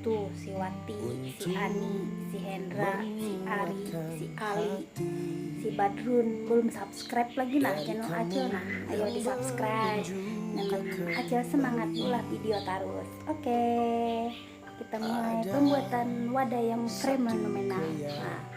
Tuh, si Wati, si Ani, si Hendra, si Ari, si Ali, si Badrun belum subscribe lagi nah channel Acil nah. Ayo di subscribe. Nah, Acil semangat ulah video terus. Oke. Okay. Kita mulai pembuatan wadah yang fenomenal. Nah,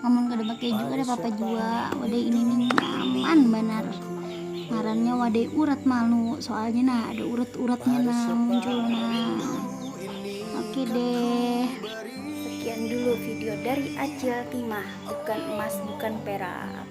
amun kada pakai keju kada apa-apa jua wadai ini nih nyaman banar ngarannya wadai urat malu soalnya nah ada urat-uratnya nah muncul nah oke deh sekian dulu video dari Acil Timah bukan emas bukan perak